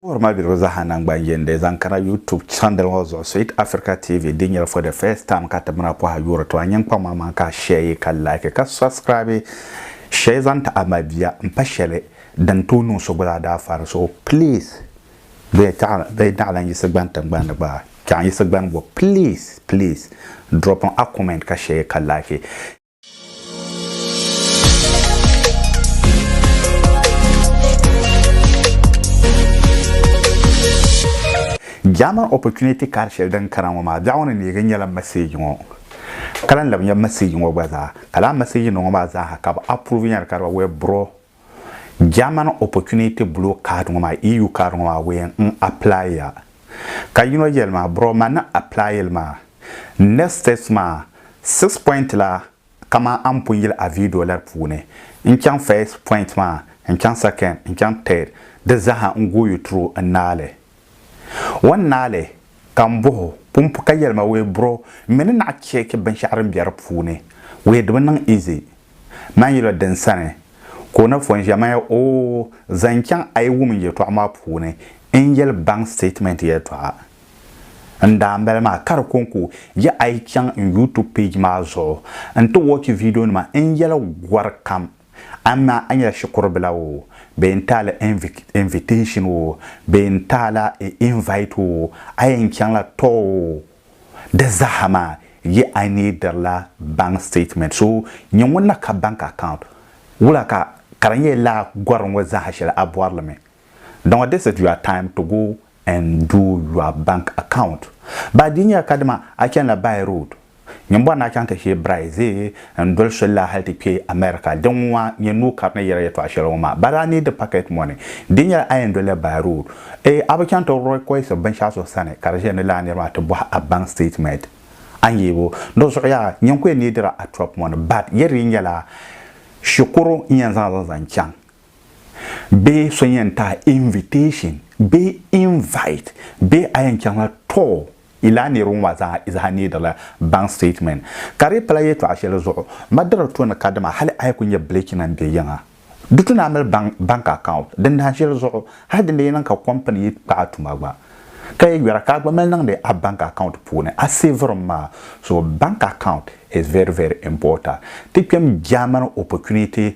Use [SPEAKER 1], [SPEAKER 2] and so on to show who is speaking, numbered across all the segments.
[SPEAKER 1] Wuhiri ma biligu zaaha nangban yindi zaŋ kana YouTube channel ŋɔ zuɣu Sweet Africa TV din nyɛli for the first time ka tibina pɔha yuuri ti ma nyini kpaŋ maa maa ka a share yi ka like ka subscribe share zaŋ ti a mabia n pa shɛli din tooi niŋ so gba zaa daa fari so please bɛ bɛ naɣilan yisi gbani tingbani ni gba chaŋ yisi gbani bo please please dropping a comment ka share yi ka like. German opportunity card shɛli din kana ŋɔ maa biɛɣu ni neegi nyɛla message ŋɔ ka lan labi nyɛ message ŋɔ gba zaa ka laa message ŋɔ maa zaaha ka bi approve nyɛli ka di withdraw German Opportunity Blue Card ŋɔ maa, EU card ŋɔ maa wee n apply ya. Ka yino yeli ma, bro ma ni apply li maa, next steps maa six point la kaman a ni pun yili a video la di puuni, n chaŋ first point maa, n chaŋ second, n chaŋ third, di zaa ha n go you through n naai li. Wan naali ka n bɔh o pumpu ka yɛli ma wee bro m mi ni naɣ cheeki binshɛɣu din be di puuni. Wee di bi niŋ easy. Man yila din sani ka o na fɔn ʒiya man ya oo zan chaŋ a yi wum n yɛtɔɣa maa puuni n yɛli bank statement yɛtɔɣa n daa n bala maa ka di ko n ku ya a yi chaŋ n youtube page maa zuɣu n ti watch video nima n yɛli gɔri kam Amaa a nyɛla shikuru bila oo, bee n taala invitation oo, bee n taala invite oo, a yɛn chaŋla tɔ oo, di zaaha maa yi I needirila bank statement. So nyɛ ŋun na ka bank account wula ka ka di nyɛ laa gɔri ŋɔ zaaha shɛli a bɔri li mi. Dɔnŋɔ this is your time to go N doo your bank account ba di nyɛla kadama a chani la by road nyini bɔri ni a chaŋ ti shee brize n doli soli la hali ti kpe America di ŋwa nyɛ noo kari ni yɛri yɛtɔɣa shɛli ŋɔ maa but a need packet money di nyɛla a yɛn doli la by road ee a bi chaŋ ti request binshɛɣu so sani ka di ʒiya ni lala niri maa ti bɔhi a bank statement a ni yee bo di zuɣu yaha nyini ku yɛn neediri a truck money but yɛri yi nyɛla shikuru n yɛn zaŋ li zaŋ chaŋ Bee so yɛn taai invitation bee invite bee a yɛn chaŋla tɔɔ yi laa niriba ŋɔ maa zaa izaha needila bank statement. Ka di pala yɛtɔɣa shɛli zuɣu Madara to ni kadama hali a yi ku nyɛ bilichinima bɛ yiŋa di tu naan mali bank bank account din dahin shɛli zuɣu hali din lee niŋ ka company yi kpaai tuma gba ka yi yɔra ka a gba mali niŋdi a bank account puuni a saverim maa. So bank account is very very important ti kpɛm Germany opportunity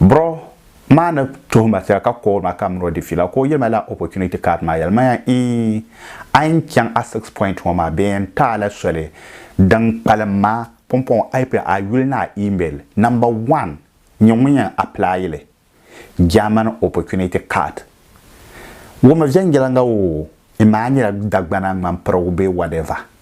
[SPEAKER 1] Bro maa ni tuhi ma sɛla ka call ma ka mini o di fiila ka o yɛli ma lala opportunity card maa yɛli ma ya ii a yɛn chaŋ a six point ŋɔ maa bɛ yɛn taai la soli din kpalim ma pumpɔŋɔ a yi pili a yuli ni a email number one nyɛ ŋun yɛn apply li German opportunity card ŋɔ mi viɛnyɛliŋga oo imaa nyɛla Dagbana ŋmanpirigu bee whatever.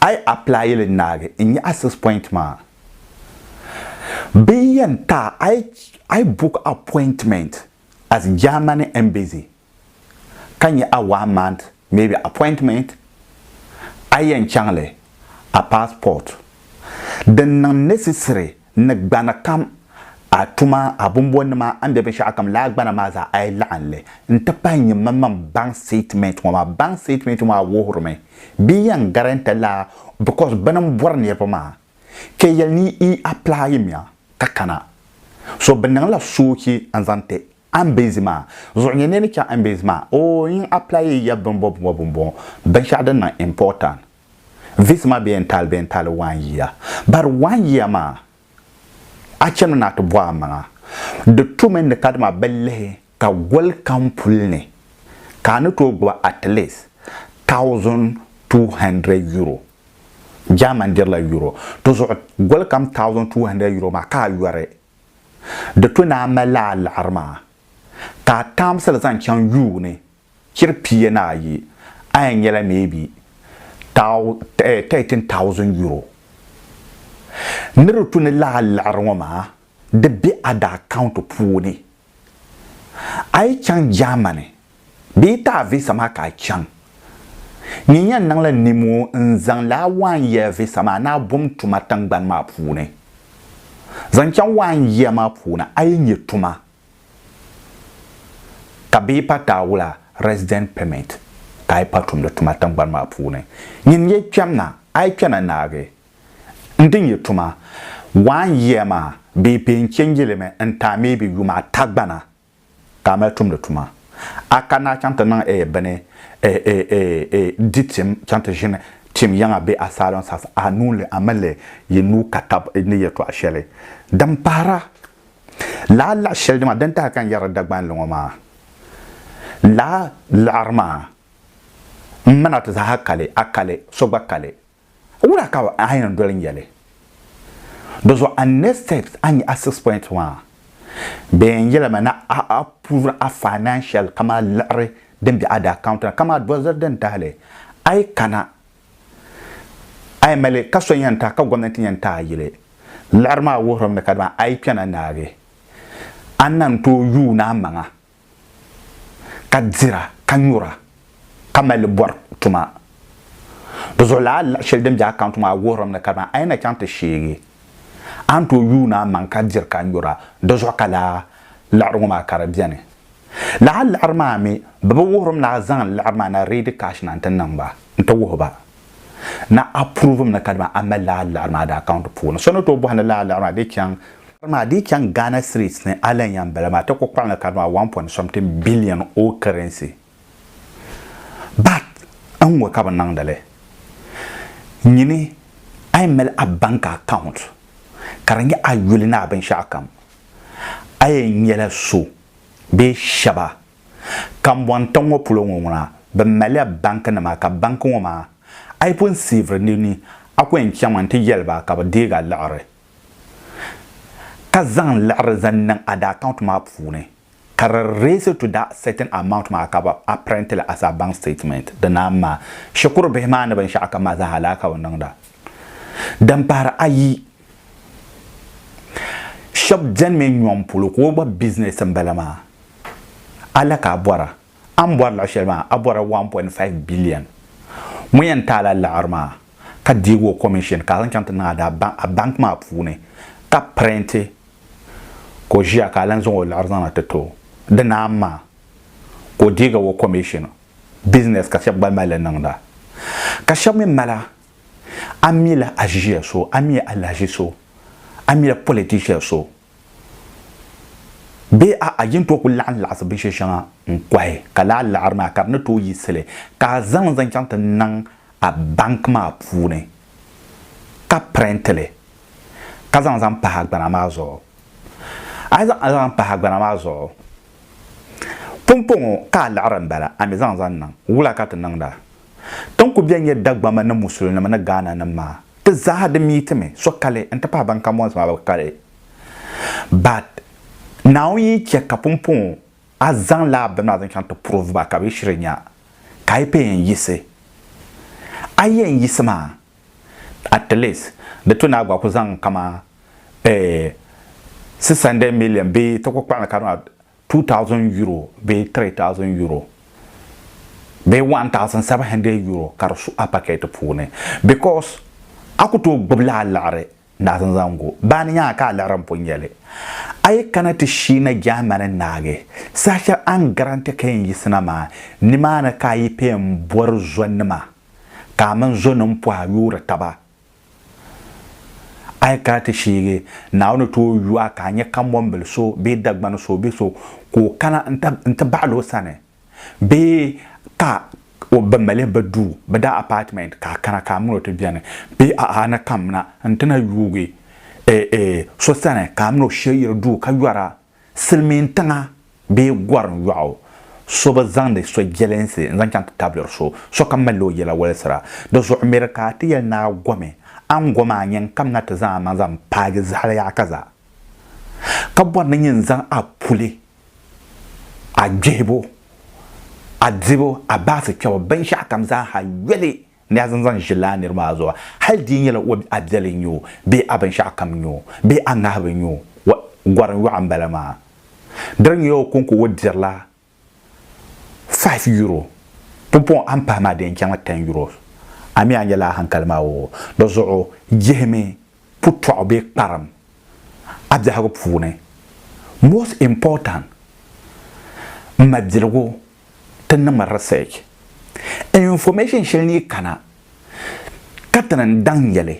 [SPEAKER 1] A yi apply li naagi n nyaɣi six point maa. Bɛ yɛn ta a yi a yi book appointment as Germany embassy ka nyɛ a one month maybe appointment a yɛn chaŋ li a passport din niŋ necessary N ni gbani kam a tuma, a bombonima, a ni be binshɛɣukam laa gbana maa zaa a yi laɣim li n-ti pahi nyini manmaŋ baŋ sitiment ŋɔ maa, baŋ sitiment ŋɔ maa wuhirimi bɛ yɛn garɛnta laa bikɔs bɛ ni m bɔri niriba maa kpe yɛli ni yi aplayimiya ka kana so bɛ niŋla soochi n-zaŋ ti Ambezi maa zuɣu nyɛ ni yi ni chaŋ Ambezi maa oo yin aplayiya bimbɔbimbɔbimbo binshɛɣu din niŋ impɔtan This ma bɛ yɛn taali bɛ yɛn taali one year but one year maa a chɛmi ni a ti bɔh amaŋa di tu mi ni kadama bɛ lihi ka goli kam puli ni ka a ni tooi gbubi at least thousand two hundred euro German dirila euro di zuɣu goli kam thousand two hundred euro maa ka a yɔri di tu ni a mali a liɣiri maa ka a taamsili zaŋ chaŋ yuuni Chiri pia ni ayi, a yɛn nyɛla maybe thou, eh, thirteen thousand euro. Ni di tu ni lahi liɣiri ŋɔ maa, di be a di account puuni. A yi chaŋ Germany, bɛ yi ti a visa maa ka a chaŋ. Nyin yɛn niŋla nimo n-zaŋ li a one year visa maa ni a bom tuma tiŋgbani maa puuni. Zaŋ chaŋ one year maa puuni a yi nyɛ tuma Ka bɛ yi pa taawula, resident permit, ka a yi pa tumdi tuma tiŋgbani maa puuni, nyin n-yi kpɛm na, a yi kpɛna naagi n din yi tuma one year maa bɛ yi pee n-change li mi n-taai maybe yuma ata gbana ka a mali tumdi tuma. A kanna a chaŋ ti niŋ eh bini eh eh eh eh di tim chaŋ ti ʒini tim yiŋa bee asylum service a nuu li a mali yi nuu ka tab ni yɛltɔɣa shɛli din pahira Laa laɣ shɛli dima din tahi ka n yɛrila Dagbanli ŋɔ maa, laa laɣiri maa m-ma na ti zaaha kali, a kali, so gba kali. Wula ka a yɛn doli n-yɛli? Di zuɣu a next steps a nya a six point maa bee n yɛli ma ni a approve a financial kamani liɣiri din be a di account ni kamani doziri din tahili a yi kana A yi mali ka so yɛn taai ka gomnanti yɛn taai yili liɣiri maa wuhirim ni kadama a yi kpɛna naagi a ni na n-tooi yuun a maŋa ka dira ka nyura ka mali li bɔri tuma. Di zuɣu lala liɣi shɛli din be akaunti maa wuhirim ni kadama a yi na chaŋ ti sheegi a ni tooi yuun a maŋa ka diri ka nyura di zuɣu ka lala liɣiri ŋɔ maa ka di beni. Lala liɣiri maa mi bɛ bi wuhirim ni a zaŋ liɣiri maa na ready cash na nti niŋ ba nti wuhi ba ni a prove mi ni ka dama a mali lala liɣiri maa di account puuni. So ni tooi bɔhi ni lala liɣiri maa di chaŋ. Maa di chaŋ Ghana streets ni a lan yan bala maa ti ku kpaɣim li ka dama one point something billion old currency but n ŋɔ ka bɛ niŋdi li nyini a yɛn mali a bank account ka di nyɛ a yuli ni a binshɛɣu kam a yɛn nyɛla so Bɛ shɛba, kambɔŋ tiŋ ŋɔ polo ŋɔ ŋuna, bɛ malila banki nima ka banki ŋɔ maa a yi pun siiviri li ni, a ku yɛn chaŋmi n-ti yɛli ba ka bɛ deeg a liɣiri ka zaŋ liɣiri zaŋ niŋ a da account maa puuni ka di raise to that certain amount maa ka a print li as a bank statement. Di naan maa, shikuru bihi maa ni binshɛɣu kam maa zaa ha lala ka bɛ niŋda. Din pahiri ayi. Shɛb beni mi nyɔŋ polo ka o gba business n bala maa. A la ka a bɔra. A ni bɔri luɣi shɛli maa a bɔrila 1.5 billion. Ŋun yɛn taai la laɣiri maa ka deegi o commission ka a zaŋ chaŋ ti niŋ a bank maa puuni ka prenti ka o ʒiya ka a lan zaŋ o laɣiri zaŋ na ti ti o. Di naan maa ka o deegi o commission. Business ka shɛb gba mali niŋda. Ka shɛb mi mala a mila a ʒiya so, a mi alahaʒi so, a mila politician so bee a'a yin tooi kuli laɣim laɣisi binshɛ shɛŋa n-kɔhi ka laa laɣiri maa ka di ni tooi yiɣisi li ka a zaŋ li zaŋ chaŋ ti niŋ a bank maa puuni ka print li ka zaŋ zaŋ pahi agbana maa zuɣu. A yi zaŋ li zaŋ pahi agbana maa zuɣu, pumpɔŋɔ ka a laɣiri m-bala, a mi zaŋ zaŋ niŋ. Wula ka ti niŋda? Ti ni ku bɛn nyɛ Dagbamba ni Musulinima ni Ghana nim maa, ti zaaha di miitimi, sokali n-ti pahi ban ka mɔnsi maa bɛ kali. But Naawuni yi chɛ ka pumpɔŋɔ a zaŋ la a bini maa zaŋ chaŋ ti prove ba ka bɛ yi shiri nya ka a yi pɛi yɛn yiɣisi, a yi yɛn yiɣisi maa, at least di tu ni a gba ku zaŋ kaman eh, 600 million bee ti ku kpaɣim li ka di ŋɔ 2,000 euro bee 3,000 euro bee 1,700 euro ka di su a pakɛt puuni because a ku tooi gbibila a liɣiri naɣisim zaŋ gu baa ni nyaŋa ka a liɣiri m-pun nya li. A yi kana ti shiina Germany naagi saha shɛli a ni garante ka yɛn yiɣisina maa, nimaani ka a yi pee m-bɔri zonima ka a mini zonim pɔha yoori taba A yi kana ti shiigi Naawuni ti o yuwa ka a nya kambɔnbil so bee Dagban so bee so ka o kana n-ti baɣil o sani bee ka o bi mali bi duu bɛ daa apartment ka a kana ka a min o ti beni bee a'a ni kamina n-ti na yuugi so sani ka a min o shɛyiri duu ka yɔra Silimiin tiŋa bee gɔrim yɔɣu so bi zaŋdi so jɛlinsi n-zaŋ chaŋ ti tabili so, sokam malila o yɛla walisira. Di zuɣu miri ka a ti yɛli ni a gomi, a ni gomi a nya n-kam na ti zaŋ amaŋ zaŋ paagi zahali yaɣa ka zaa, ka bɔri ni nyin zaŋ a puli, a gbihibu, a dibu, a baasi kpɛbu, binshɛɣukam zaa ha yoli Ni a zaŋ zaŋ ʒi laa nir maa zuɣu, hal di yi nyɛla o a biɛli n-nyɛ o bee a binshɛɣu kam n-nyɛ o bee a ŋahibu n-nyɛ o, wa, gɔrim yɔɣu m-bala maa. Di di nyɛla o kɔŋko o dirila five euro, pumpɔŋɔ a ni pahi maa di yɛn chaŋla ten euros. A mi a ni nyɛla a hankali maa o di zuɣu jihimi putɔɣu bee kparim a biɛhigu puuni. Most important, m ma biligu. ti niŋ research, information shɛli ni yi kana ka ti ni daŋ nyɛli,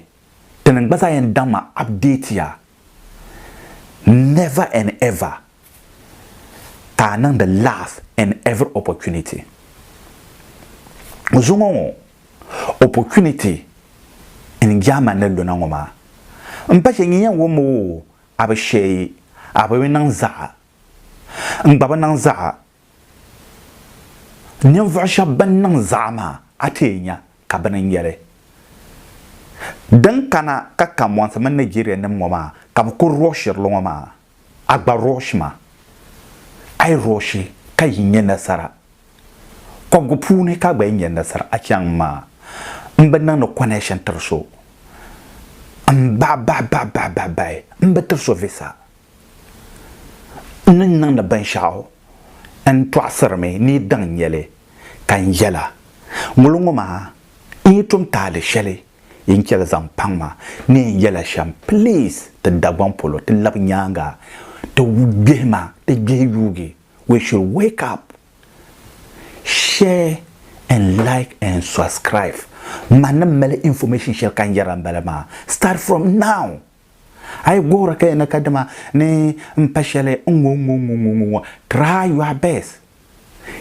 [SPEAKER 1] ti ni gba zaa yɛn daŋ ma update ya never and ever ka a niŋdi last and every opportunity. Zuŋɔ ŋɔ opportunity n German ni luna ŋɔ maa m pa shɛli nyin yɛn wum o a bi shɛyi a bi niŋ zaɣa n gba bi niŋ zaɣa Ninvuɣ shɛb bɛn niŋ zaɣa maa, a ti yɛn nya ka bɛ ni nyɛli. Din kana ka kambɔnsi mini Nigerianim ŋɔ maa ka bɛ kul rɔɔshiri li ŋɔ maa, a gba rɔɔshi ma. A yi rɔɔshi ka yi nya nasara kɔbigu puuni ka a gba yi nya nasara, a chaŋ m maa m bi niŋdi connection tiri so. M baɣibaɣibaɣibaɣibaɣi m bi tiri so visa. N ni niŋdi binshɛɣu n tɔɣisirimi ni yi daŋ nya li, ka n yɛla, Ŋuli ŋɔ maa, n yi tum taali shɛli yin chɛli zaŋ paŋ ma ni yɛn yɛla shɛm, please ti Dagbaŋ polo ti labi nyaaŋa ti gbihi ma, ti gbihi yuugi, we should wake up, share and like and subscribe, ma ni mali information shɛli ka n yɛra m bala maa, start from now, A yi guhiri ka yi ni ka dima ni n pa shɛli ŋ-ŋɔ ŋ-ŋɔ ŋ-ŋɔ ŋ-ŋɔ ŋ-ŋɔ, try your best.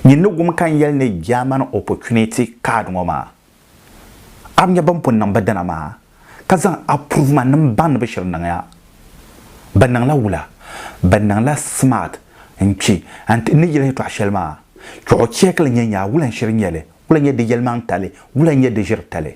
[SPEAKER 1] Nyin ni wum ka n yɛli ni German opportunity card ŋɔ maa, a bi nya bɛn pun niŋ ba dina maa ka zaŋ approve-ma-nim baŋ ni bɛ shiri niŋ ya? Bɛ niŋla wula? Bɛ niŋla smart n-kpi n-ti ni yɛli yɛtɔɣ shɛli maa. Chuɣu cheekili nyɛ nyaa wula n-shiri nyɛli, wula n-nyɛ di yɛlimaŋtali, wula n-nyɛ di ʒiritali.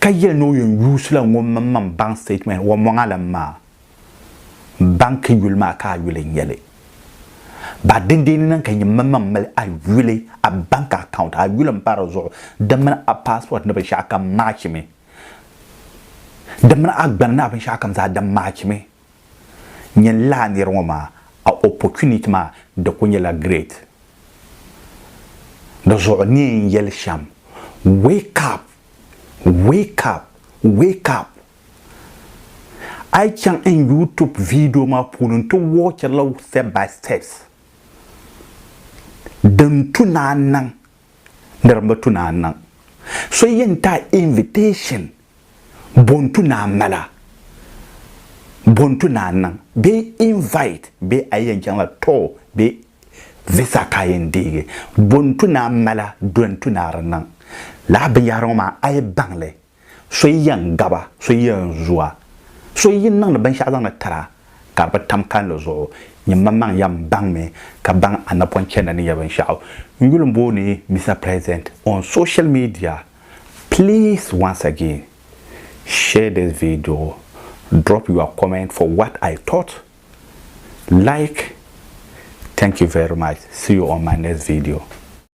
[SPEAKER 1] ka yɛli ni o yɛn yuusila ŋɔ maŋmaŋ baŋ statement wɔmɔŋa la maa baŋ ka yuli maa ka a yuli n-nyɛli ba dindeeni na ka nyɛ maŋmaŋ mali a yuli a bank account a yuli m-pa di zuɣu di mini a passport ni binshɛɣukam maachimi di mini a gbana ni a binshɛɣukam zaa di maachimi Nyɛ n lahi niri ŋɔ maa a opportunity maa di ku nyɛla great. Di zuɣu ni n yɛli shɛm wake up, wake up, wake up. A yi chaŋ n YouTube video maa puuni n ti watchiri li step by steps din tu ni a niŋ. di rimbu tu naan niŋ. So yɛn ti a invitation bɔn tu naan mala bɔn tu naan niŋ bee invite bee a yi yɛn chaŋ la tour bee visa ka a yɛn deegi bɔn tu naan mala dɔn tu naa di niŋ. Lala binyɛhiri ŋɔ maa a yi baŋ li So yi yɛn gab a, so yi yɛn zu a, so yi niŋdi binshɛɣu zaŋdi tir a ka di bi tam kalinli zuɣu, nyimmaŋmaŋ yɛn baŋmi ka baŋ a napɔn chɛndi ni yɛli binshɛɣu. N yuli n booni Mister President on social media, please once again share this video, drop your comment for what I taught, like, thank you very much, see you on my next video.